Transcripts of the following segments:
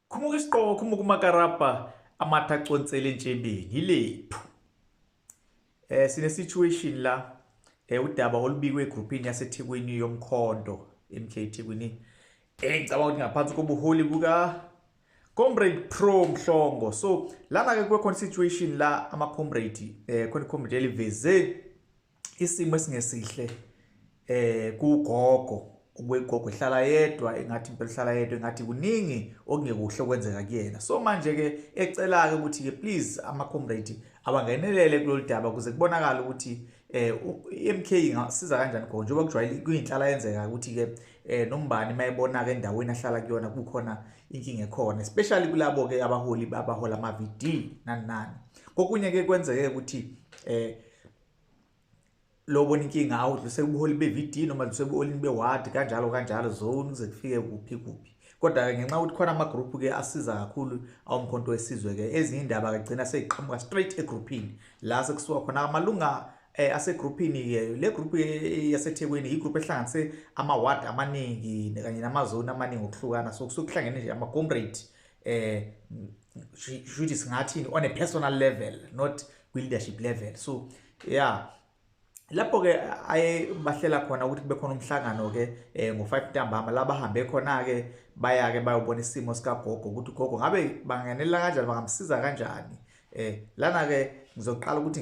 khumuka isiqoko khumuka umakarabha amatha aconsele entshebeni yilephu eh sine situation la eh udaba olubikwe egroupini yaseThekwini yomkhondo MK Thekwini engicabanga ukuthi ngaphansi kobuholi buka comrade pro mhlongo so lana ke kwe situation la ama comrade eh khona comrade eliveze isimo esingesihle eh kugogo ukwegogo ihlala yedwa engathi impela ihlala yedwa engathi kuningi okungekuhle okwenzeka kuyena so manje ke ecela ke ukuthi ke please ama comrade abangenelele kulolu daba kuze kubonakala ukuthi eh iMK ingasiza kanjani khona njengoba kujwayele kuyinhlala yenzeka ukuthi ke eh nombani mayibona ke endaweni ahlala kuyona kukhona inkinga ekhona especially kulabo ke abaholi abahola ama VD nani nani kokunye ke kwenzeke ukuthi eh lobona inkinga awu dluse kubuholi be-VD noma dluse kubuholini be-ward kanjalo kanjalo zone kuze kufike kuphi kuphi kodwa-ke ngenxa yokuthi khona amagroupu-ke asiza kakhulu awumkhonto wesizwe-ke ezinye iy'ndaba kagcina seyiqhamuka straight egruphini la sekusuka khona amalunga eh asegruphini ke le group yaseThekwini igroup ehlanganise ama ward amaningi kanye namazone amaningi okuhlukana so kusukuhlangene nje ama comrade eh shuthi singathini on a personal level not kwi-leadership level so ya yeah. lapho-ke aye bahlela khona ukuthi kube khona umhlangano-ke um eh, ngo-five ntambama la bahambe khona-ke baya-ke bayobona isimo sikagogo ukuthi ugogo ngabe banganela kanjani bangamsiza kanjani um lana-ke ngizoqala ukuthi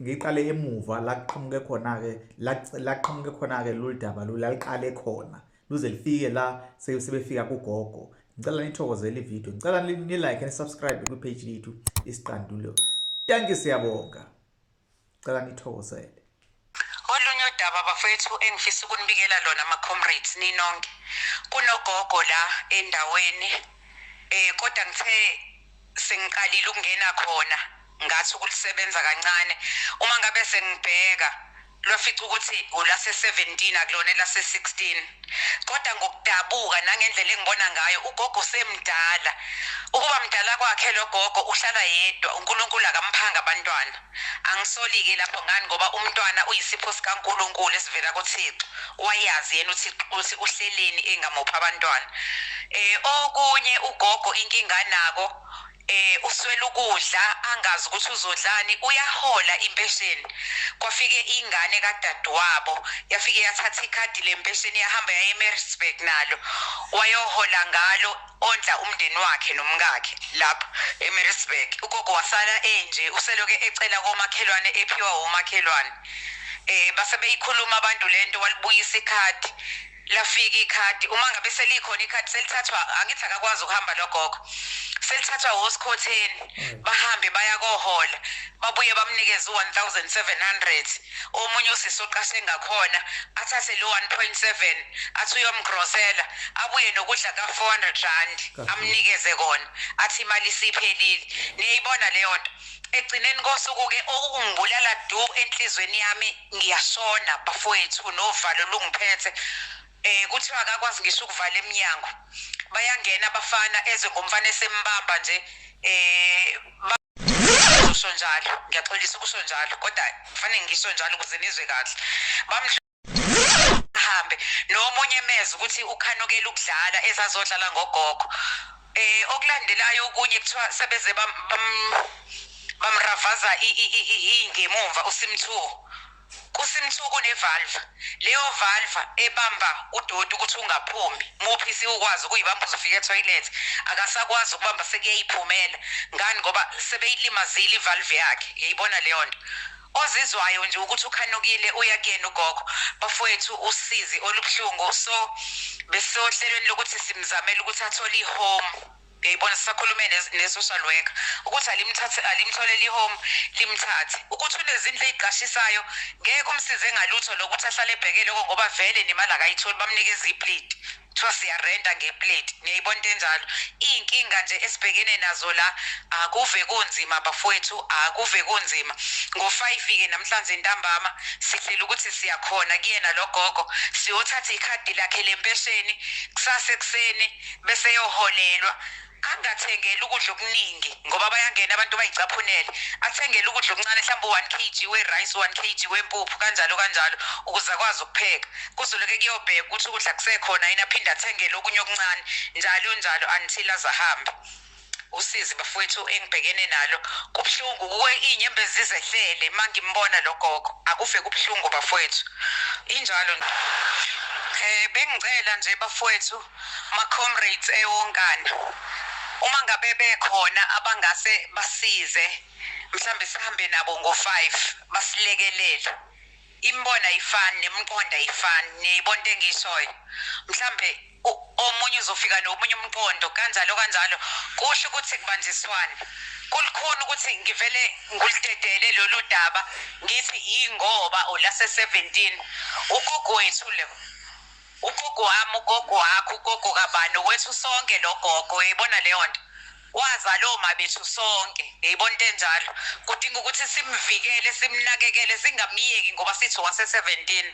ngiyiqale emuva la kuqhamuke khona-ke la kuqhamuke khona-ke lolu daba lolu laliqale khona luze lifike la sebefika kugogo ngicela nithokozele ivideo ngicela nilike nisubscribe kwipage lethu isiqandulo tanki siyabonga ngicela nithokozele olunye udaba bafowethu engifisa ukunibikela lona ama-comrades ninonke kunogogo la endaweni um kodwa ngithe sengiqalile ukungena khona ngathi ukulisebenza kancane uma ngabe sengibheka lwafica ukuthi ulase-17 akulona elase-16 kodwa ngokudabuka nangendlela engibona ngayo ugogo usemdala ukuba mdala kwakhe lo gogo uhlala yedwa unkulunkulu akamphanga abantwana angisoli-ke lapho ngani ngoba umntwana uyisipho sikankulunkulu esivela kuthixo wayazi yena ukuthi uhleleni engamuphi abantwana um okunye ugogo inkinga anako eh uswela ukudla angazi ukuthi uzodlani uyahola impesheni kwafike ingane kadadewabo yafike yathatha ikhadi lempesheni yahamba yaye eMaritzburg nalo wayohola ngalo ondla umndeni wakhe nomkakhe lapho eMaritzburg ugogo wasala enje useloke ecela komakhelwane ephiwa womakhelwane eh base beyikhuluma abantu lento walibuyisa ikhadi lafika ikhadi uma ngabe selikhona ikhadi selithathwa angithi akakwazi ukuhamba logogo selithathwa wosikhotheni mm. bahambe baya kohola babuye bamnikeze u-1700 omunye usisi oqashe ngakhona athathe lo 1.7 athi uyomgrosela abuye nokudla ka-400 rand amnikeze kona athi imali isiphelile niyayibona leyo nto egcineni kosuku-ke okungibulala du enhliziyweni yami ngiyasona bafowethu novalo lungiphethe eh kuthiwa akakwazi ngisho ukuvala eminyango bayangena abafana eze ngomfana esembamba nje eh kusho njalo ngiyaxolisa kusho njalo kodwa kufanele ngisho njalo ukuze nizwe kahle bamhambe nomunye mezwe ukuthi ukhanukela ukudlala ezazodlala ngogogo Eh okulandelayo okunye kuthiwa sebeze bam bamravaza ingemumva uSimthuo. KuSimthuo kunevalve. Leyo valve ebamba udoti ukuthi ungaphumi. Muphi siwukwazi ukuyibamba uzofika etoilet. Akasakwazi ukubamba sekuyayiphumela. Ngani ngoba sebeyilimazile ivalve yakhe. Yayibona leyo nto. ozizwayo nje ukuthi ukhanukile uya kuyena ugogo bafowethu usizi olubuhlungu so besohlelweni lokuthi simzamele ukuthi athole ihome uyayibona sisakhulume ne-social worker ukuthi alimthathe alimtholele ihome limthathe ukuthi unezindlu eziqashisayo ngeke umsize ngalutho lokuthi ahlale ebheke lokho ngoba vele nemali akayitholi bamnikeza iplate kuthiwa siyarenta ngeplate niyayibona into enjalo iy'nkinga nje esibhekene nazo la akuve kunzima bafowethu akuve kunzima ngo-five-ke namhlanje ntambama sihlela ukuthi siyakhona kuyena lo gogo siyothatha ikhadi lakhe lempesheni kusasa ekuseni bese yoholelwa angathengeli ukudla okuningi ngoba bayangena abantu bayicaphunele athengele ukudla okuncane mhlawumbe u-one k g we-rice u-one k g wempuphu kanjalo kanjalo ukuze akwazi ukupheka kuzoloke kuyobheka ukuthi ukudla kusekhona yini aphinde athengele okunye okuncane njalo njalo until azahambe usizi bafowethu engibhekene nalo kubuhlungu kuwe iy'nyembezi zizehlele uma ngimbona lo gogo akuve kubuhlungu bafowethu injalo um bengicela nje bafowethu Ma comrades eyonkana uma ngabe bekhona abangase basize mhlambe sihambe nabo ngo 5 basilekelele imbona ayifani nemqondo ayifani niyayibona into engiyishoyo mhlambe omunye uzofika nomunye umqondo kanjalo kanjalo kusho ukuthi kubanjiswane kulukhuni ukuthi ngivele ngulidedele lolu daba ngithi yingoba olase 17 ugogo wethu lo ugogo wami ugogo wakho ugogo kabani wethu sonke lo gogo uyayibona leyo nto wazala oma bethu sonke ngiyibona into enjalo kudinga ukuthi simvikele simnakekele singamyeki ngoba sithi wase-seventeen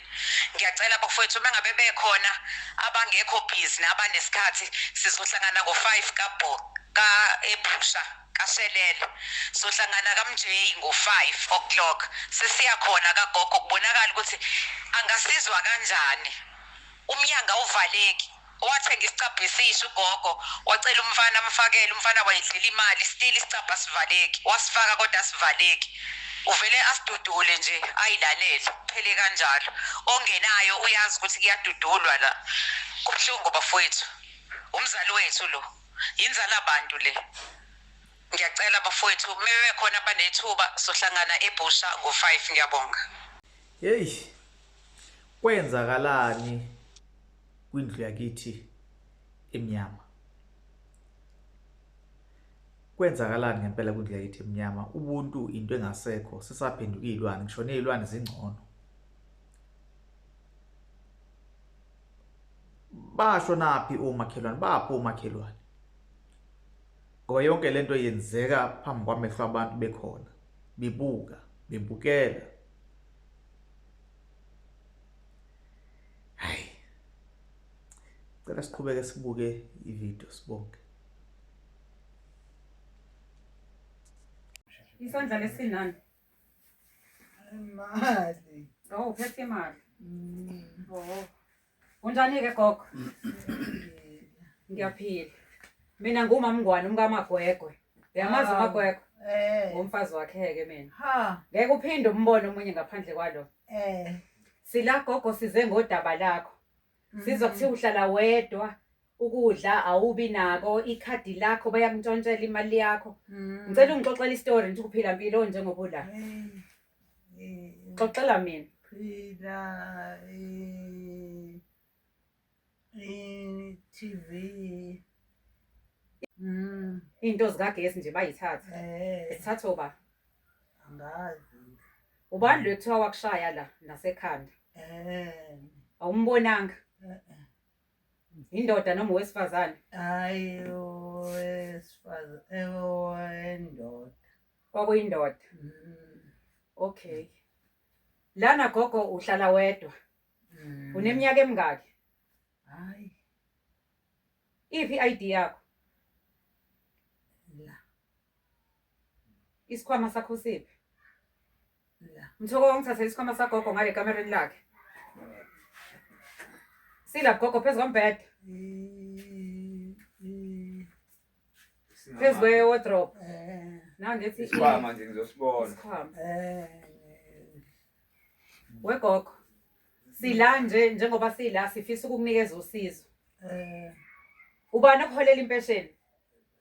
ngiyacela bafowethu uma ngabe bekhona abangekho busy nabanesikhathi sizohlangana ngo-five kabho ka-ephusha kaShelela. Sohlangana kaMJ ngo-five o'clock. Sesiya khona kagogo kubonakala ukuthi angasizwa kanjani. Umnyango awuvaleki. Wathenga isicabha esisha ugogo, wacela umfana amfakele, umfana wayidlela imali, still isicabha asivaleki. Wasifaka kodwa asivaleki. Uvele asidudule nje, ayilalele, kuphele kanjalo. Ongenayo uyazi ukuthi kuyadudulwa la. Kubuhlungu bafowethu. Umzali wethu lo. yinzala bantu le ngiyacela bafowethu mebe khona abanethuba sohlangana ebhusha ngo 5 ngiyabonga hey kwenzakalani kwindlu yakithi emnyama kwenzakalani ngempela kwindlu yakithi emnyama ubuntu into engasekho sisaphenduka izilwane ngishone izilwane zingcono basho naphi omakhelwane baphi omakhelwane ngoba yonke lento yenzeka phambi kwamehlo abantu bekhona bibuka bibukela hayi cela siqhubeke sibuke ivideo sibonke isandla lesinani Imali. Oh, uphethe imali. Mm. Oh. Unjani-ke gogo? Ngiyaphila. Mina ngumama Ngwane umkaMagwegwe. Uyamazi Hawu. uMagwegwe? Eh. Ngumfazi wakhe-ke mina. Ha. Ngeke uphinde umbone omunye ngaphandle kwalo. Eh. Sila gogo size ngodaba lakho. sizwa mm. kuthiwa uhlala wedwa ukudla awubi nako ikhadi lakho bayakuntshontshela imali yakho mm. ngicela ungixoxela istory ngithi ukuphila mpilo njengoba ula xoxela mina phila i-tv mm. iy'nto zikagesi nje bayithatha eh. zithatha oba angazi ubani lo ekuthiwa wakushaya la nasekhanda eh awumbonanga eh-eh. indoda noma owesifazane hayi owesifazane eh, owendoda kwakuyindoda Mm, okay lana gogo uhlala wedwa mm. uneminyaka emingaki hayi iphi i-id yakho la Isikhwama sakho siphi? Mthoko wangithathela isikhwama sagogo ngale kamereni lakhe. Sila gogo phezu kombhede. Phezu kwe-wardrobe. Now ngithi isikhwama nje ngizosibona. Isikhwama. Wegogo. Sila nje njengoba sila sifisa ukukunikeza usizo. Ubani okuholela impesheni?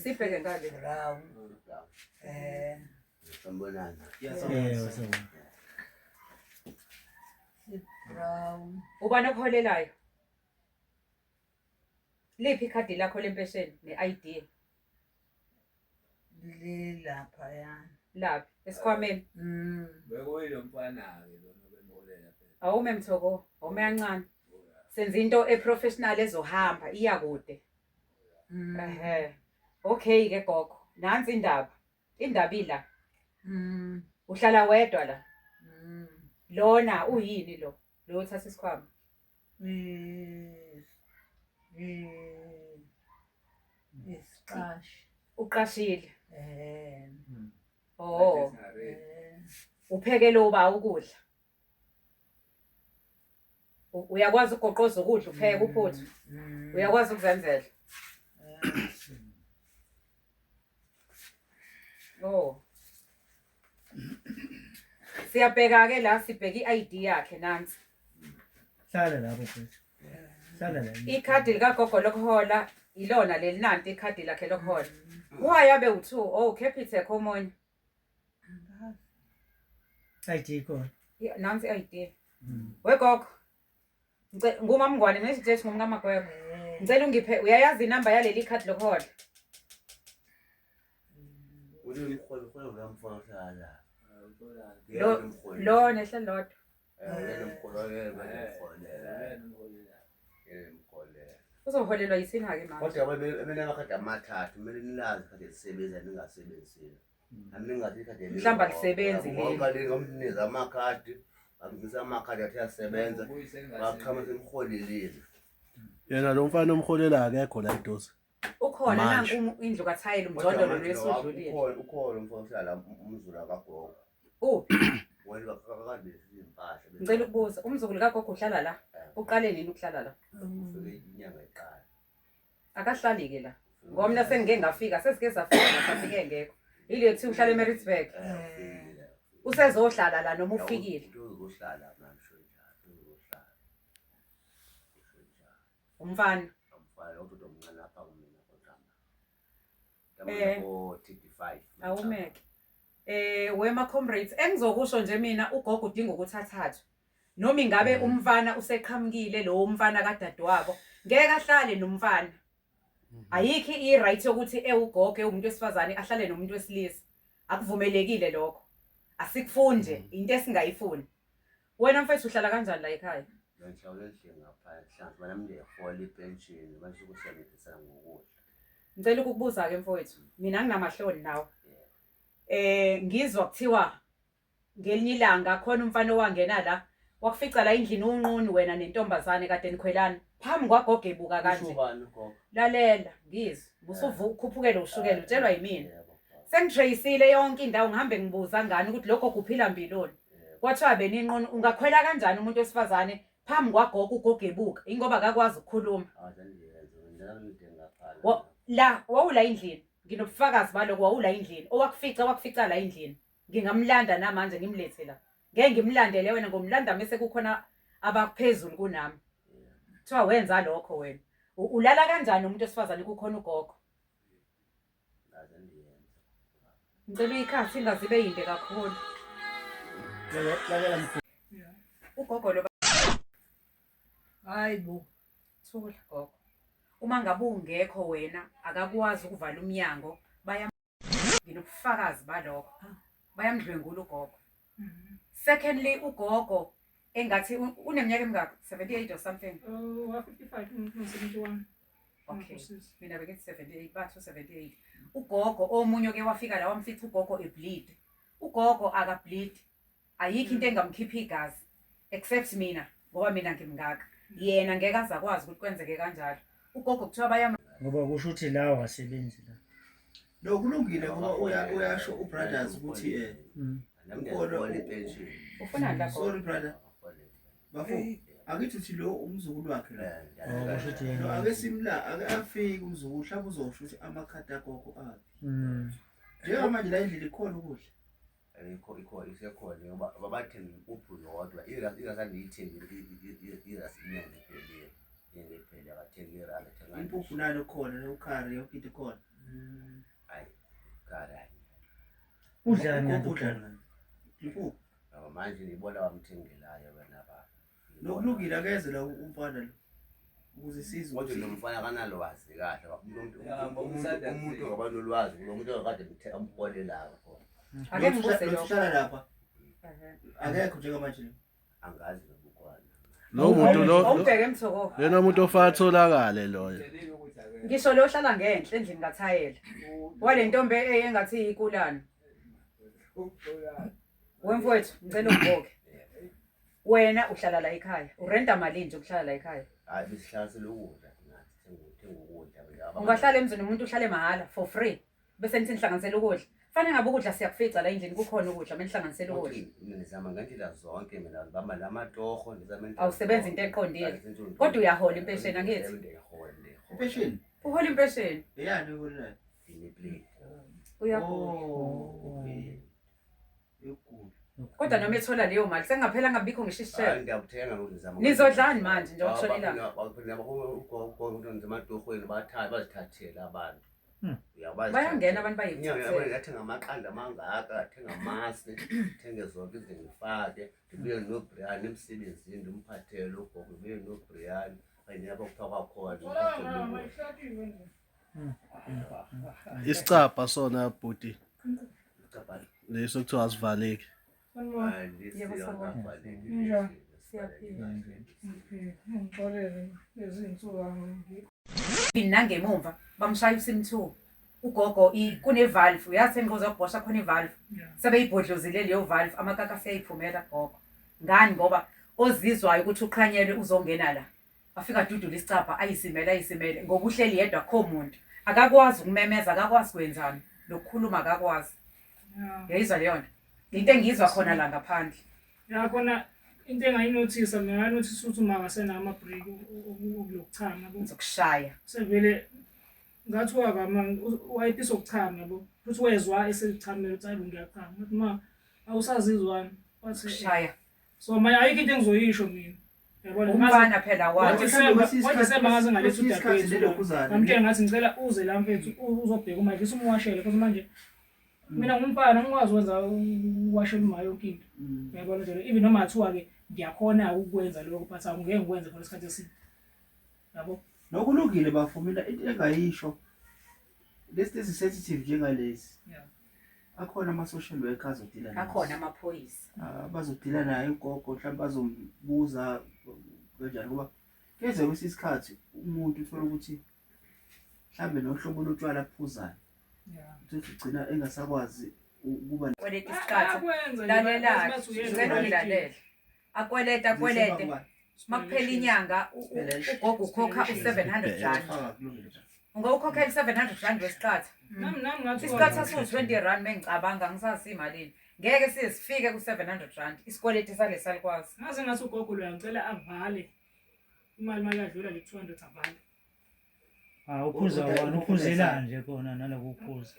Sibheke ngale. Eh. Sambonana. Brown. Ubani okuholelayo? Liphi ikhadi lakho lempesheni ne-ID? Lilaphaya. Laphi? Esikhwameni. Mm. Bekuyilo mfana-ke lona obembolela phela. Awume mthoko, awume kancane. Senza into eprofessional ezohamba iya kude. Mm. Ehhe. Okay ke gogo. Nansi indaba. Indaba ila. Mm. Uhlala wedwa la. Mm. Lona uyini lo? Lo uthatha isikhwama. Isiqashi. Uqashile. Eh. Mm. Oh. Eh. Uphekele uba ukudla. U- Uyakwazi ukugoqoza ukudla upheke uphuthu. Mm. Uyakwazi ukuzenzela. Oh. siyabheka ke la sibheka i-id yakhe nansi hlala lapho mfethu hlala la ikhadi likagogo lokuhola ilona leli nanti ikhadi lakhe lokuhola uwayabe u-two o capitec omunye ID khona nansi i-id wegogo ngumamngwane nesijethi ngumkamagwebo ngicela ungiphe uyayazi inamba yaleli khadi lokuhola lo nehle lodwa uzoholelwa yisini-ke manje kodwa amathathu kumele nilazi kade lisebenza ningasebenzisile mhlawumbe alisebenzi leliamniza amakhadi amnisa amakhadi athi asebenza wachama semrholelile yena lo mfana omrholela akekho la idosi ukhona nanku indlu kathayela umjondolo lwesudlulile ukhona umfana uhlala umzulu akagogo uphi ngicela ukubuza umzukulu kagogo uhlala la eh. uqale nini ukuhlala la inyanga iqala akahlali ke la ngoba mina sengike ngafika sesike safika ngasafike ngekho yile kuthiwa uhlala eMaritzburg usezohlala la noma ufikile uzohlala ngisho njalo uzohlala umfana umfana kodwa omncane lapha kumina kodwa Eh. awumeke eh wema comrades engizokusho nje mina ugogo udinga ukuthi athathwe noma ingabe mm. umfana useqhamukile lo umfana kadadewabo ngeke ahlale nomfana mm-hmm. ayikho i-right yokuthi ewugogo ewumuntu wesifazane ahlale nomuntu wesilisa akuvumelekile lokho asikufunde mm. into esingayifuni Wena mfethu uhlala kanjani la ekhaya? Ngihlawula endlini ngapha ehlanze ngoba nami ngiyahola ipenshini manje ukusebenzisa ngokudla. Ngicela ukukubuza-ke mfowethu, mina nginamahloni nawe. Eh ngizwa kuthiwa ngelinye ilanga khona umfana owangena la wakufica la endlini unqunu wena nentombazane kade nikhwelana. phambi kwagogo ebuka Usho kanje ubani ugogo? lalela ngizwe busuvu ukhuphukele ushukela Ah, utshelwa yimina yebo, ah, sengitreyisile yonke indawo ngihambe ngibuza ngani ukuthi lokho kuphila mbiloni yebo. kwathiwa beninqunu ungakhwela kanjani umuntu wesifazane phambi kwagogo ugogo ebuka ingoba akakwazi ukukhuluma Ah, sengiyenza. Ngicela ngide ngaphandle. Wo- la wawula endlini nginobufakazi baloko wawula endlini owakufica wakufica la endlini Ngingamlanda namanje ngimlethe la. Ngeke ngimlandele wena ngomlanda mese kukhona abaphezulu kunami. Kuthiwa wenza lokho wena. U- Ulala kanjani umuntu osifazane kukhona ugogo? Ngaze ndiyenze. Ngicela uyikhathi ingazibe yinde kakhulu. Lale- Lalela mkhulu. Ugogo lo Hayi bo. thula gogo. Uma ngabe ungekho wena akakwazi ukuvala umnyango baya nginobufakazi balokho ah. bayamdlwengula ugogo mm-hmm. secondly ugogo engathi uneminyaka emingaki 78 or something oh, mm, okay mina bekithi 78 bathu 78 ugogo omunye oke wafika la wamfica ugogo ebleed ugogo akableed ayikho into engamkhipha igazi except mina ngoba mina ngimngaka yena ngeke aze akwazi ukuthi kwenzeke kanjalo ugogo kuthiwa bayam ngoba kusho ukuthi la wasebenzi la lo kulungile ngoba uya- uyasho ubrothers ukuthi eh Mm. Ukolo- ufuna lapho sorry brother bafo akithi uthi lo umzukulu wakhe lo Oh, kusho ukuthi yena. No, ake simla ake afike umzukulu mhlawumbe uzosho ukuthi amakhadi agogo aphi Mm. njengamanje la endlini ikhona ukudla ayikho ikhona isekhona ngoba babathembe impuphu yodwa irasi irasi andiyithembi irasi inyanga iphelile inyanga iphelile akathenge irasi athenga impuphu nalo khona nokhari yonke into ikhona mm. hayi khari hayi udlani udlani impuphu ngoba manje ndiyibona wamthengelayo wena baba Lokulungile akeze la umfana lo. Ukuze sizwe. Kodwa nomfana kanalwazi kahle. Umuntu umuntu ngaba nolwazi, umuntu akade kuthe ampole la khona. Ake ngibuse lo. Uhlala lapha. Akekho njengamanje lo. Angazi lokukwana. Lo muntu lo. Awubheke mthoko. Lena umuntu ofaka tholakale loyo. Ngisho lo ohlala ngenhla endlini kathayela. Wale ntombi engathi ikulana. Wemfowethu ngicela ugoke. Wena uhlala la ekhaya. Urenta malini nje ukuhlala la ekhaya? Hayi besihlanisela ukudla thina sithenga uthenga ukudla nje abanye. Ungahlala emzini umuntu uhlale mahhala for free. Bese nithi nihlanganisela ukudla. Fanele ngabe ukudla siyakufica la endlini kukhona ukudla menihlanganisela ukudla. Futhi mina ngizama ngendlela zonke mina ngibamba la matoho ngizama into Awusebenzi into eqondile. Kodwa uyahola impesheni, angithi? Ngiyahola ngiyahola. Impesheni. Uhola impesheni. Eyani uholile? Ngine plate. Uyahola. Oh. Yokugula. Kodwa noma ethola leyo mali sengaphela ngabikho ngisho isishebo. Ngiyakuthenga lo ngizama. Nizodlani manje nje okushona ilanga? Ematorhweni bathathe bazithathele abantu. Hmm. Uyabazi. Bayangena abantu bayithathele. Ngathenga amaqanda amangaka, ngathenga amasi, ngithenge zonke izinto ngifake, ngibuye noBrian emsebenzini ndimphathele ugogo, ngibuye noBrian. Ayinabo kuthiwa kwakhona. isicabha sona bhuti leso kuthiwa asivaleki nangemumva bamshaya usim two ugogo kunevalve uyazi engiqoza kubhosha khona ivalve sebeyibhodlozile leyo valve amakaka aseyayiphumela gogo ngani ngoba ozizwayo ukuthi uqhanyelwe uzongena la Wafika adudula isicabha ayisimele ayisimele ngoba uhleli yedwa akho muntu. Akakwazi ukumemeza, akakwazi kwenzani, nokukhuluma akakwazi. Yayizwa leyo nto. Into engiyizwa khona la ngaphandle. Ya khona into engayinothisa mina ngayinothisa ukuthi uma ngasenama break okulokuchama ku- Ngizokushaya. sevele ngathi wakama wayepisa ukuchama yabo futhi wezwa esechamela ukuthi ayi bo ngiyachama ngathi ma awusazizwani wathi "Eh, Kushaya. so manje ayikho into engizoyisho mina yabona umfana phela wathi ngoDisemba ngaze ngaletha udadewethu ngamtshela ngathi ngicela uze la mfethu uzobheka uma ngifisa umwashele futhi manje mina ngumfana ngikwazi ukwenza uwashela uma yonke into mm. yabona njalo even noma kuthiwa-ke ngiyakhona ukukwenza lokho but angeke ngikwenze for isikhathi eside yabo nokulungile bafumina into engayisho lesi lesi sensitive njengalesi yeah. akhona ama-social worker azodila akhona amaphoyisa ah, bazodila naye ugogo mhlawumbe bazombuza kanjani ngoba keze kwesinye isikhathi umuntu uthola ukuthi mhlawumbe nohlobo lotshwala aphuzayo uthi ugcina engasakwazi ukuba kweleta isikhathi lalela ngicela ungilalele akweleta akwelete makuphela inyanga ugogo ukhokha u-seven hundred rand ungawukhokhela i-seven hundred rand wesiqatha isiqatha siwu-twenty rand mengicabanga ngisasi imalini ngeke siye sifike ku-seven hundred rand isikweleti sale salikwazi ngaze ngathi ugogo loya ngicela avale imali uma yadlula le-two hundred avale Ah ukhuza Uda- wona ukhuzela ukhuzela. nje kona naloku ukhuza.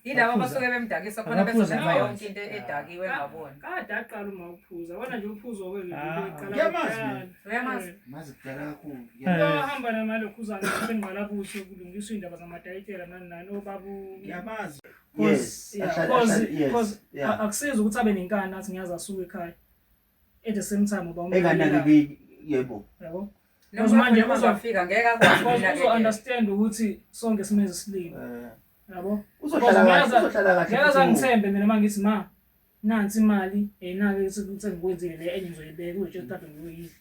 Yilabo Baphuza. abasuke bemdakisa khona Abaphuza bezobeka nayo. yonke into edakiwe ngabona. Kade aqala uma uphuza. Wona nje uphuzo ke nje Ah. into eqala Uyamazi kuqala. mina. Uyamazi? Mazi kudala kakhulu. Eh. Bahamba namalokhuzana sengqalabuso kulungiswa indaba zamadayitela nani nani obabu Ngiyamazi. Yes. Ahlale- ahlale- yes, yeah. akusizi ukuthi abe nenkani athi ngiyazi asuke ekhaya at the same time uba enganakekeki yebo yabo Because manje noma uzwa- uzofika ngeke akwazi because ukunakekela. uzo-understand ukuthi sonke simele isilima Eh, yabo uzohlala kahle Ngeke aza- uzohlala kahle ngeke futhi umuntu. azangithembe mina uma ngithi ma nansi imali yayinake sengikwenzile le enye ngizoyibeka uzotshe kade ngiyoyidla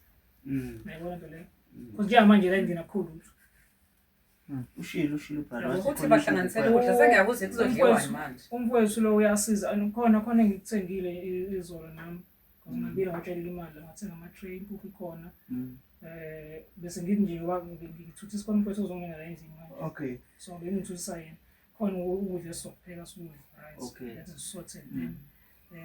Mm, nayibona nto leyo Mm. because njengamanje la ngingena kukhulu lutho Hmm, ushilo ushilo ukuthi bahlanganisele ukudla sengiyakuze kuzodliwani manje umfowethu lo uyasiza khona khona engikuthengile izolo nami hmm. ngibile ngatshelela imali ngathenga ama-tray impuphu ikhona um bese ngithi nje ngithutha isikhona umfowethu ozongena la endlini manje okay so bengithutha yena khona ukudla esizokupheka sikudla right that is sorted um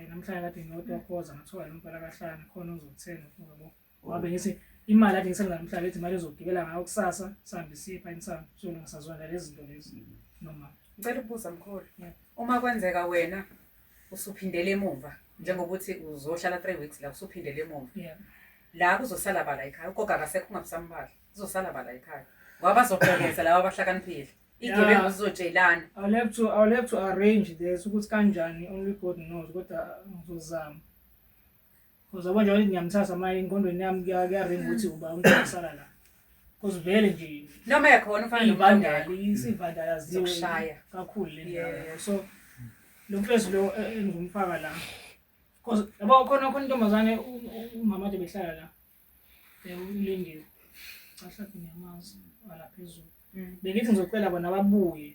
namhlanje kade ngiyodwa khoza ngathola lo mfana kahlana khona ozokuthenga futhi Wabe ngithi imali athi ngisenza namhlanje ethi imali ezogibela ngayo kusasa sihambe siye pha insango so ngisazwana lezi zinto lezi noma ngicela ukubuza mkhulu uma kwenzeka wena usuphindele emuva njengokuthi uzohlala three weeks la usuphindele emuva la kuzosala bala ekhaya ugoga akasekho ungabusamubala kuzosala bala ekhaya ngoba bazoqekeza laba abahlakaniphile igebengu zizotshelana i'll have to i'll have to arrange this ukuthi kanjani only god knows kodwa ngizozama Cause yabo njengoba ngiyamthatha manje engqondweni yami kuya- kuyaringa ukuthi uba umntwana usala la. Cause vele nje noma yakhona ufana iy'bandala isivandalaziwe Zokushaya. kakhulu le ndawo Yeah. yabo. So lo mfezi lo eh, engumfaka la. Cause yabo khona khona intombazane u- u- umama ade behlala la. Eh, ulindiwe. Cha hlaphi ngiyamazi ala phezulu. Mm. Bengithi ngizocela bona babuye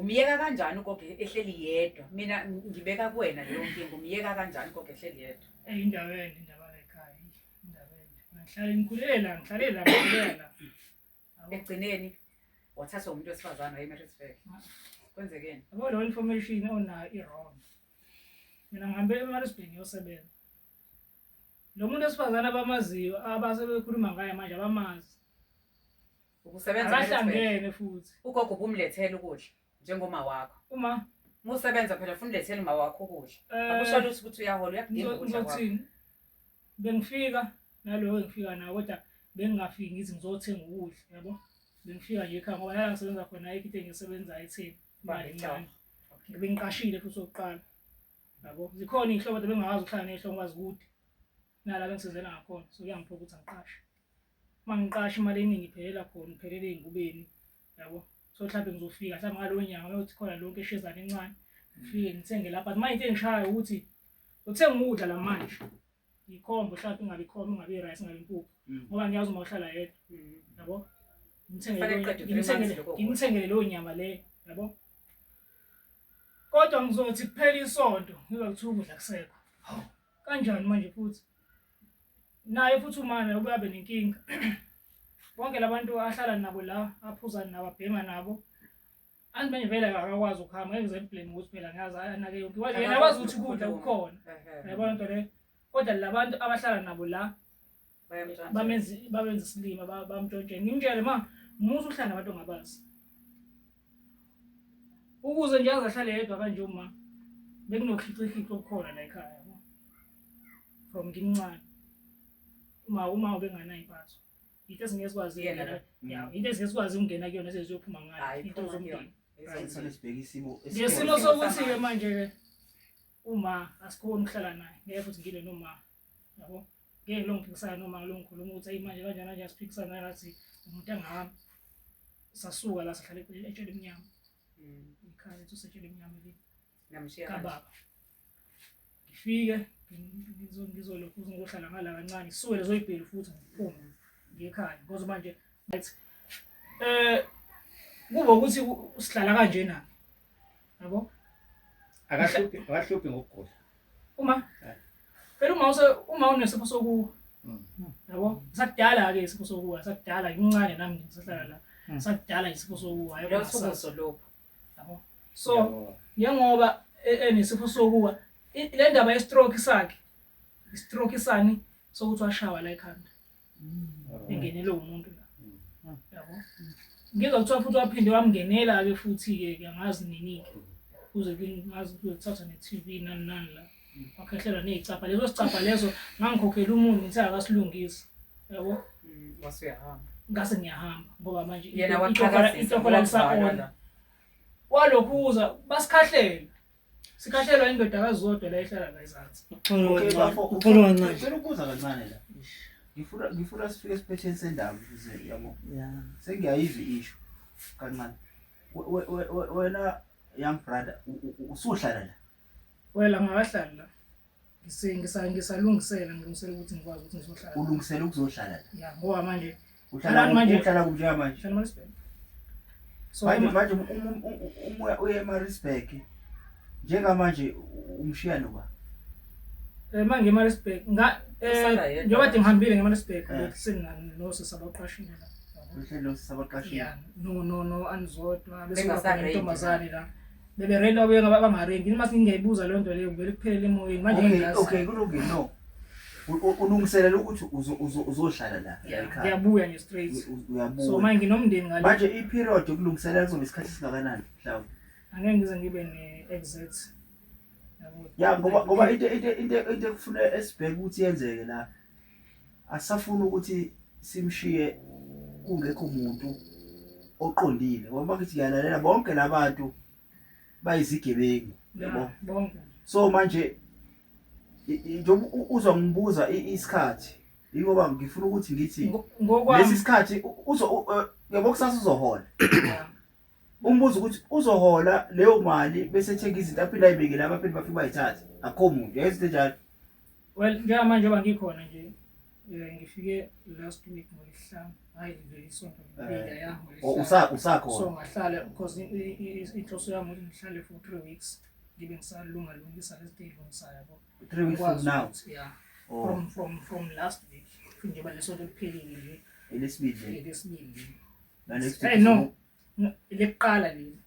umyeka kanjani ugogo ehleli yedwa mina ngibeka kuwena leyo nkinga umyeka kanjani ugogo ehleli yedwa eyi indawo ende indaba lekhaya indawo ende ngihlale ngikhulele la ngihlale la ngikhulele la ekugcineni wathathwa umuntu wesifazane wayemerisburg kwenzekeni yabo leyo information onayo i-wrong mina ngihambe emarisburg ngiyosebenza lo muntu wesifazane abamaziyo abasebekhuluma ngaye manje abamazi Ukusebenza phela uSbeh. abahlangene futhi Ugogo ubumlethela ukudla njengoma wakho. uma Musebenza phela funa ulethele uma wakho ukudla. eh, Akusho lutho ukuthi uyahola uyakudinga ngizo- ukudla kwakho. ngizothini bengifika naloyo engifika nawo kodwa bengingafiki ngithi ngizothenga ukudla yabo bengifika nje ekhaya ngoba nala ngisebenza khona ayikho into engisebenza etheni imali encane Okay. bengiqashile futhi okokuqala yabo zikhona iy'hlobo kodwa bengakwazi ukuhlala ney'hlobo kwazi kude nala bengisebenzela ngakhona so kuyangiphoqa ukuthi angiqashe uma ngiqasha imali eningi iphelela khona ngiphelele ey'ngubeni yabo so mhlawumbe ngizofika mhlawumbe ngalo nyanga mayothi khona lonke eshezane encane ngifike ngithenge lapha but manje into engishayo ukuthi uthenga ukudla la manje yikhombo mhlawumbe ingabe ikhombo ingabe i-rice ingabe impuphu mm. ngoba ngiyazi uma uhlala yedwa mm. yabo ngimthengele leyo nyama leyo yabo kodwa ngizothi kuphela isonto ngizokuthi ukudla kusekho kanjani manje futhi naye futhi umana ubuye abe nenkinga bonke labantu ahlala nabo la aphuza nabo abhema nabo anti manje vele akakwazi ukuhamba ngeke ngize ngiblame ukuthi phela ngazi anake yonke wathi yena akwazi ukuthi ukudla kukhona yabona nto leyo kodwa labantu abahlala nabo la bamenza isilima bamntshontshe ngimtshele ma musa uhlala nabantu ongabazi ukuze nje azahlale yedwa kanje uma bekunokhixikhixa okukhona la ekhaya from ngimncane uma uma ubenganayo impatho into esingezikwazi yena ya into esingezikwazi ukungena kuyona seziyophuma ngayo into zomndeni ngesimo sokuthi-ke manje-ke uma asikhoni ukuhlala naye ngeke futhi ngile noma yabo ngeke longiphikisana noma longikhuluma ukuthi ayi manje kanjani kanje asiphikisana ngathi umuntu angami sasuka la sahlala eceleni etshele emnyama mm. ikhaya lethu setshele emnyama leli namshiya kababa ngifike ngizolokhu ngizohlala ngala kancane suke lezo ibheli futhi ngiphume mm. ngekhaya ngoba manje ngathi eh kuba ukuthi usihlala kanjena Yabo? Akahluphi, akahluphi ngokugula. Uma Eh. phela uma use uma unesifo sokuwa. Mm. Yabo? Sakudala ke isifo sokuwa, sakudala ngimncane nami nje ngisahlala la. Mm. Sakudala isifo sokuwa. Yabo? Lo suku Sasa- soloku. Yabo? So Yabo. njengoba e- enesifo sokuwa i- le ndaba ye-stroke sakhe i-stroke sani sokuthi washawa la ekhanda mm. engenelwe umuntu la mm. yabo ngizwa kuthiwa futhi waphinde wamngenela-ke futhi-ke ke angazi nini-ke kuze ngazi kuthatha ne-tv nani nani la wakhehlelwa ney'capha leso sicapha leso ngangikhokhela umuntu ngithe akasilungisi yabo ngase ngiyahamba ngoba manje intokola lisaona walokhu uza basikhahlele Sikhahlelwa indoda kaZodwa la ehlala la ezansi. Uxolo kancane. Ngicela ukubuza kancane la. Ngifuna ngifuna sifike esiphetheni sendaba ukuze yabo. Yeah. Sengiyayizwa isho kancane. Wena young brother usuhlala la. Wena ngahlala la. Ngise- ngisa- ngisalungisela ngilungisela ukuthi ngikwazi ukuthi ngizohlala ulungisela ukuzohlala la ya ngoba manje uhlala Uhlala manje. uhlala kuphi njengamanje ngihlala eMaritzburg. so manje uma- manje um- um- um- um- umoya uye emarisburg njengamanje u- umshiya noba eh, manje eMaritzburg nga- eh, Usala yedwa. njengoba kade ngihambile ngeMaritzburg Eh. bekuseni na- nosisi abaqashile la uhlelo sabaqashile ya no no no anizodwa Bengasaredi. besingabantombazane la bebe rent wabuye ngaba bangarenti uma singeyibuza leyo nto leyo kuvele kuphelele emoyeni manje okay ngiyazi. okay kulungile no U- u- ulungiselela ukuthi uzo- uzo- uzohlala la Yeah, ekhaya. ngiyabuya nje straight U- u- so uyabuya manje nginomndeni ngale manje i-period yokulungiselela kuzoba isikhathi esingakanani mhlawumbe angeke ngize ngibe ne-exact Yabo, ya ngoba ngoba into into into into ekufuna esibheke ukuthi yenzeke la asisafuni ukuthi simshiye kungekho muntu oqondile ngoba ngithi ngiyalalela bonke labantu bayizigebengu yabo so manje njengoba uzwa ngibuza isikhathi yingoba ngifuna ukuthi ngithi lesi sikhathi uzo yabo kusasa uzohola umbuzo ukuthi uzohola leyo mali bese ethenga izinto aphinde ayibekele abaphinde bafike bayithathe akho muntu yazi into enjalo well njengamanje oba ngikhona nje um ngifike last week ngolesihlanu hhayi nje isonto ngibika eh, yangoso usakhona ngahlala because inhloso yami ukuthi ngihlale for three weeks ngibe ngisalunga lungisa lezi nto eyilungisayo yabo three weeks from now yeah oh. from from from last week njengoba lesonto liphelile nje elesibili elesibili Hey no. Lekuqala leli.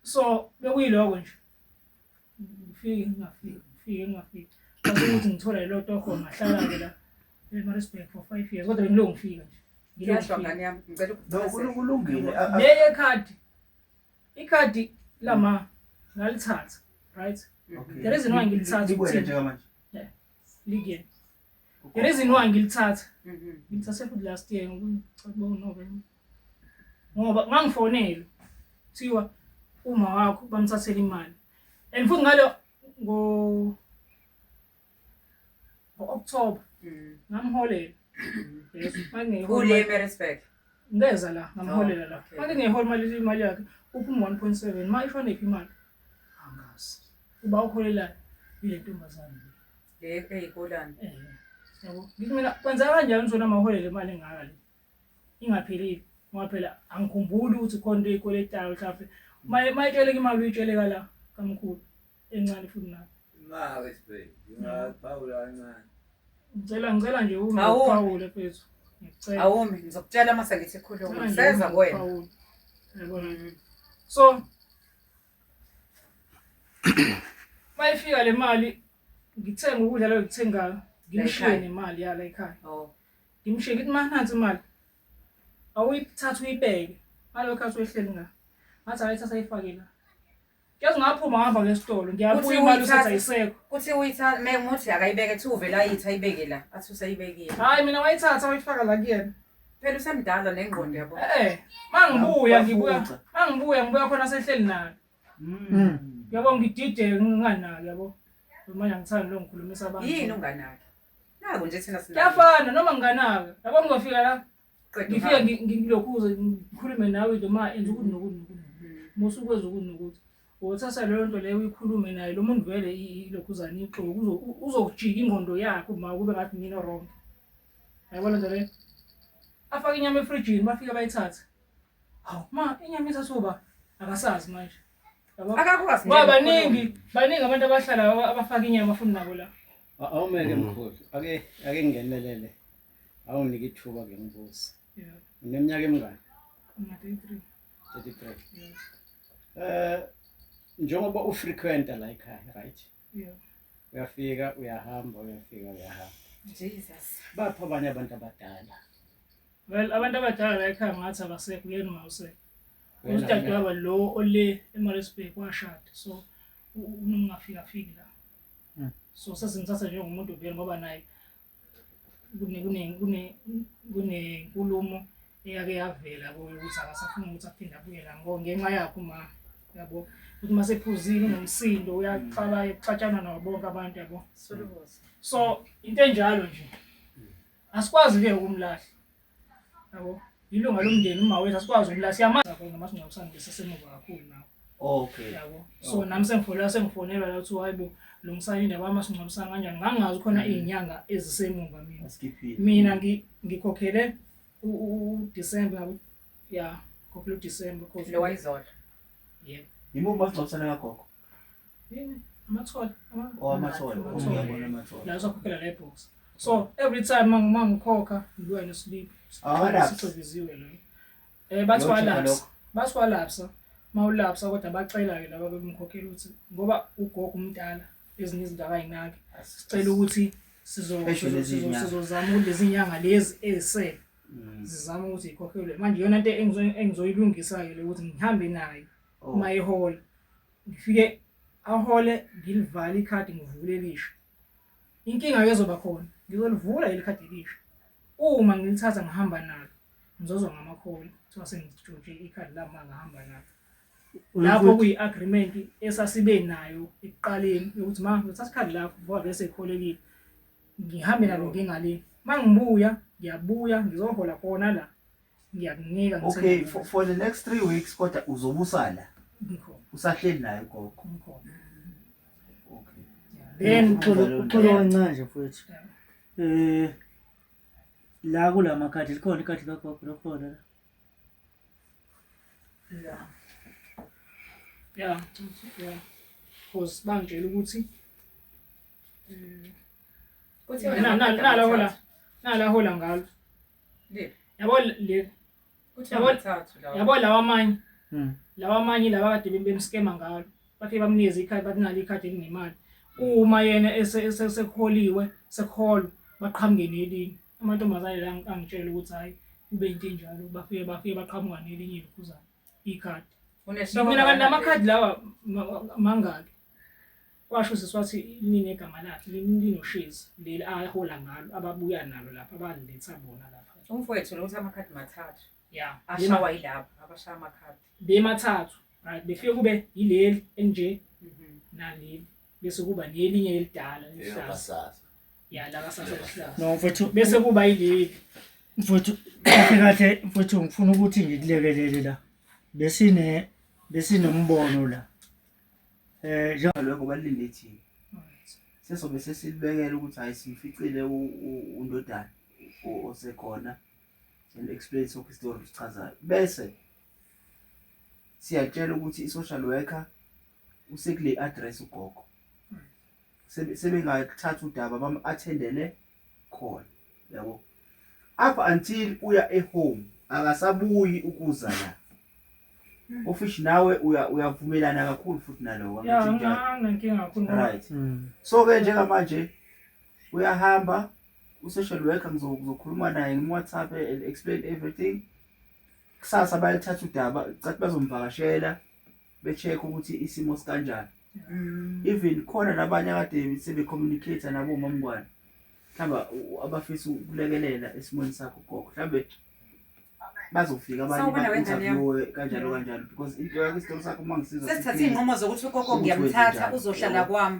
So bekuyiloko nje. Ngifike ngingafiki, ngifike ngingafiki. Ngase ukuthi ngithola ilo toko ngahlala ke la. eMaritzburg for 5 years kodwa bengiloko ngifika nje. Ngiyashwa ngane yami ngicela ukuchazela. Kulungile. Leye card. Ikhadi lama ngalithatha, right? Okay. The reason why ngilithatha ukuthi njengamanje. Yeah. Ligeni. The reason why ngilithatha Mhm. ngilithathe futhi last year ngokucabanga uNovember ngoba ngangifonelwe kuthiwa uma wakho bamthathela imali and futhi ngalo ngo ngo-october Mhm. ngamholela yes mangingeyihola Kule imali- Maritzburg. ngeza la ngamholela la Oh, okay. mangingeyihola imali imali yakhe uphuma one point seven ma ifanephi imali Angazi. uba uholelayo ile ntombazane le eyikolani yabo ngithi mina kwenzeka kanjani zona maholele imali engaka le ingaphelile ngoba phela angikhumbuli ukuthi khona into eyikweletayo mhlawumbe Maye- mayitsheleka imali uyitsheleka la kamkhulu encane futhi nayo imali sibheki ngingaphawula kancane ngicela ngicela nje ume Awu. uphawule phezu ngicela awumi ngizokutshela uma sengithi khuluma Ngicela nje seza ume kuwena uphawule. Yabona? Mm. so mayifika le mali ngithenga ukudla lo ngithengayo ngimshiye nemali yala ekhaya oh. ngimshiye ngithi ma nansi imali awuyithatha uyibeke ngalo khathi wehleli nga ngathi ayithatha ayifake la Yazi ngaphuma ngahamba ngesitolo ngiyabuya imali usathi ayisekho. Kuthi uyithatha me muthi akayibeke thi uvela ayithi ayibeke la athi useyibekile. Hayi mina wayithatha wayifaka la kuyena. Phela usemdala nengqondo yabo. Eh mangibuya ngibuya mangibuya ngibuya khona sehleli nayo. Mm. Mm. Yabo ngidide nginganaki yabo. Manje angithandi lo ngikhulumisa abantu. Yini unganaki? Naku nje thina sina. Kuyafana noma nginganaki. Yabo ngizofika la. Qeda. Ngifike ngi- ngi- ngilokhuze ngikhulume nawe nje ma enza ukuthi nokuthi nokuthi. Musa ukwenza ukuthi nokuthi. Wothatha leyo nto leyo uyikhulume naye lo muntu vele i- ilokhuzana ixoki uzo- u- uzokujika ingqondo yakhe uma kube ngathi mina wrong. Yabona nje le. Afake inyama efrijini bafike bayithathe. Hawu ma inyama isasuba akasazi manje. Yabo? Akakwazi Ngoba nje baningi baningi abantu abahlala aba- abafaka inyama futhi nabo la. A- Awumeke Mm. mkhulu. Ake ake ngingenelele. Awunike ithuba ke ngibuze. Yeah, Uneminyaka emingaki? I'm 33. 33. Yeah. Eh njengoba ufrequenta la ekhaya, right? uyafika uyahamba uyafika uyahamba Jesus bapho abanye abantu abadala well abantu abadala la ekhaya ngathi abasekho yena uma usekho udadewabo lo ole eMaritzburg washada so unungafika fiki la hmm. so sesingithatha njengomuntu vele ngoba naye kunenkulumo eyake yavela kuye ukuthi akasafuni ukuthi aphinde abuye la ngoba ngenxa yakho ma yabo ukuthi uma sephuzile unomsindo uyaqala ekuxatshana nabo bonke abantu yabo so into enjalo nje asikwazi-ke ukumlahla Yabo. Ilunga lomndeni uma wethu asikwazi ukula siyamazi khona mase ngiyakusanga ngesesemuva kakhulu nawe. Okay. Yabo. So okay. nami sengifonela sengifonela la uthi hayibo lungisani indaba yami masingcwabisana kanjani ngangazi khona mm. izinyanga ezisemuva mina. Asikhiphile. Mina ngikhokhele u December yabo. Yeah. Kokulu December kokulu. Lo wayizodwa. Yebo. Yimo masingcwabisana kagogo. amathole oh amathole uyabona amathole la uzokhokhela le box so every time uma ngikhokha ngibuya nesibili sixebiziwe lo eh bathi walapsa bathi walapsa mawulapsa kodwa bacela ke laba bemkhokhela ukuthi ngoba ugogo umdala ezinye izinto akayinaki sicela ukuthi sizozama lezi nyanga lezi ezisele mm. zizama ukuthi ikhokhelwe manje yona into engizoyilungisa-ke le ukuthi ngihambe nayo Oh. uma ehola ngifike ahole ngilivale ikhadi ngivule elisha inkinga ezoba khona ngizolivula leli khadi elisha uma ngilithatha ngihamba nalo ngizozwa ngamakholi kuthiwa sengitshontshe ikhadi lami uma ngihamba nalo lapho Unokuthi- kuyi-agreement esasibe nayo ekuqaleni yokuthi ma ngithatha ikhadi lakho ngoba bese ekholekile ngihambe nalo ngingalini uma ngibuya ngiyabuya ngizohola khona la ngiyakunika ngithe okay ngiyakunika. for, for the next three weeks kodwa uzobusala Ngikhona, usahleli naye gogo ngikhona. okay Yeah. Then uxolo Then- uxolo kancane nje mfowethu. Eh la kula makhadi likhona ikhadi kagogo lokhona la. Yeah. Yeah. Yeah. Cause bangitshela ukuthi Kuthiwa na- na- nala hola nala hola ngalo yabo le yabo lawa amanye hmm. lawa amanye laba kade bemskema ngalo bafike bamnikeza ikhadi bathi nalo ikhadi elinemali uma yena esekholiwe sekholwa baqhamuke nelinye amantombazane la angitshela ukuthi hhayi kube into enjalo bafike bafike baqhamuka nelinye likhuzana ikhadi mina kanti namakhadi lawa mangaki washo sisi wathi liningi egama lakhe linoshezi leli ahola ngalo ababuya nalo lapha abandiletha bona lapha umfowethu lo ukuthi amakhadi mathathu ya ashawa yilapha abashaya amakhadi bemathathu right befike kube yileli enje mhm. naleli bese kuba nelinye elidala elihlaza ya la kasasa elihlaza no mfethu bese kuba yileli mfethu kahle kahle mfethu ngifuna ukuthi ngikulekelele la besine besinombono la eh njalo ngoba lilethini sesobe sesilibekela ukuthi hayi simficile undodana osekhona and explain so history sichazayo bese siyatshela ukuthi i-social worker usekule address ugogo sebengathatha udaba bam-athendele khona yabo up until uya ehome akasabuyi ukuza la ofishi nawe uyavumelana kakhulu futhi nalowo right hmm. so ke njengamanje uyahamba u-social worker ngizokhuluma naye ngim-whatsapp and explain everything kusasa bayalithatha udaba cathi bazomvakashela be-check ukuthi isimo sikanjani mm. even khona nabanye akade sebecommunicate nabo mamngwane mhlawumbe abafisa ukulekelela esimweni sakho gogo mhlawumbe bazofika abanye kanjalo kanjalo because into yakho isitolo sakho uma ngisizasesithathe iy'nqumo zokuthi ugogo ngiyamthatha uzohlala kwami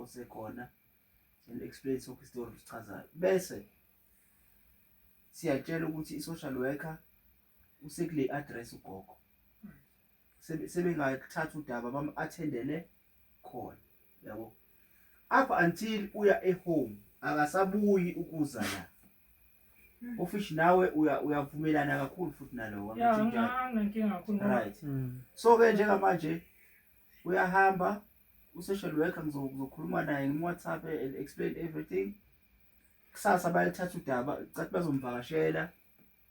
osekhona and explain soke isitori sichazayo bese siyatshela ukuthi i-social worker usekule address ugogo sebengathatha udaba bam-athendele khona yabo up until uya ehome akasabuyi ukuza la ofishi nawe uyavumelana kakhulu futhi nalowo right hmm. so ke njengamanje uyahamba u-social worker ngizokhuluma naye ngim-whatsapp explain everything kusasa bayalithatha udaba cathi bazomvakashela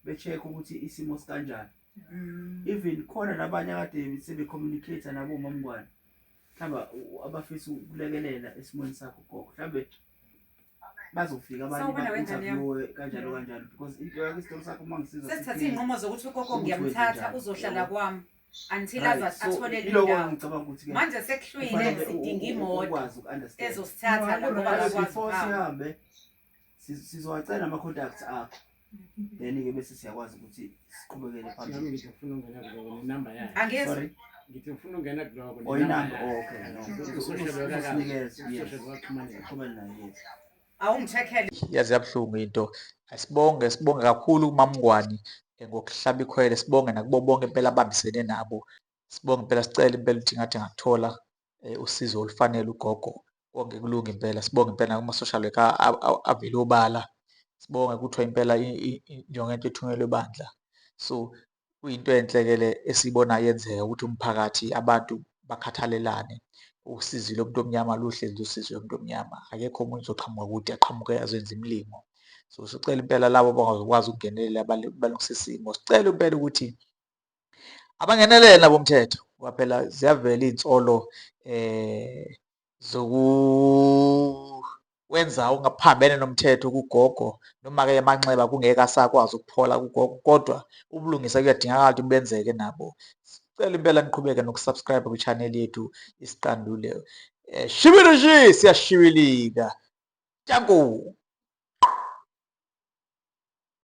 be-check-a ukuthi isimo sikanjani mm. even khona nabanye akade sebe-communicate-a nabomamngwane mhlawumbe abafisa ukulekelela esimweni sakho gogo mhlawumbe bazofika abanye ba-interviewe kanjalo kanjalo because into yakho isitolo sakho uma ngisiza sesithathe iy'nqumo zokuthi ukoko ngiyamthatha uzohlala kwami until athole lendawomanje sekuhlwile sidinga imoto ezosithatha laobaakwazihambe sizowacela ama-contacts akho then-ke bese siyakwazi ukuthi siqhubekele phambili ngithi ngifuna ungena kuloko nenumber yakhe angezi ngithi ngifuna ungena kuloko oyinamba oh, okay noqhubele naye yethu awungithekele yazi yabuhlungu into asibonge sibonge kakhulu kumamngwani eh, ngokuhlaba ikhwele sibonge nakubo bonke impela abambisene nabo sibonge impela sicela impela ukuthi ngathi ngakuthola eh, usizo olufanele ugogo konke kulunga impela sibonge impela kuma-social worker avele obala sibonge kuthiwa impela njengento ethunyelwe bandla so kuyinto enhle-ke le esiyibona yenzeka ukuthi umphakathi abantu bakhathalelane usizi lomuntu omnyama luhlezi lusizi lomuntu omnyama akekho omunye uzoqhamuka kude aqhamuke azoyenza imilingo so sicela impela labo abangazokwazi ukungenelela balungisa isimo sicela impela ukuthi abangenelele nabo umthetho ngoba phela ziyavela iy'nsolo eh zokuwenza ungaphambene nomthetho kugogo noma-ke emanxeba kungeke asakwazi ukuphola kugogo kodwa ubulungisa kuyadingakala ukuthi benzeke nabo sicela impela niqhubeke nokusubscribe kwi-channel yethu isiqandule um eh, shibilishi siyashibilika tanku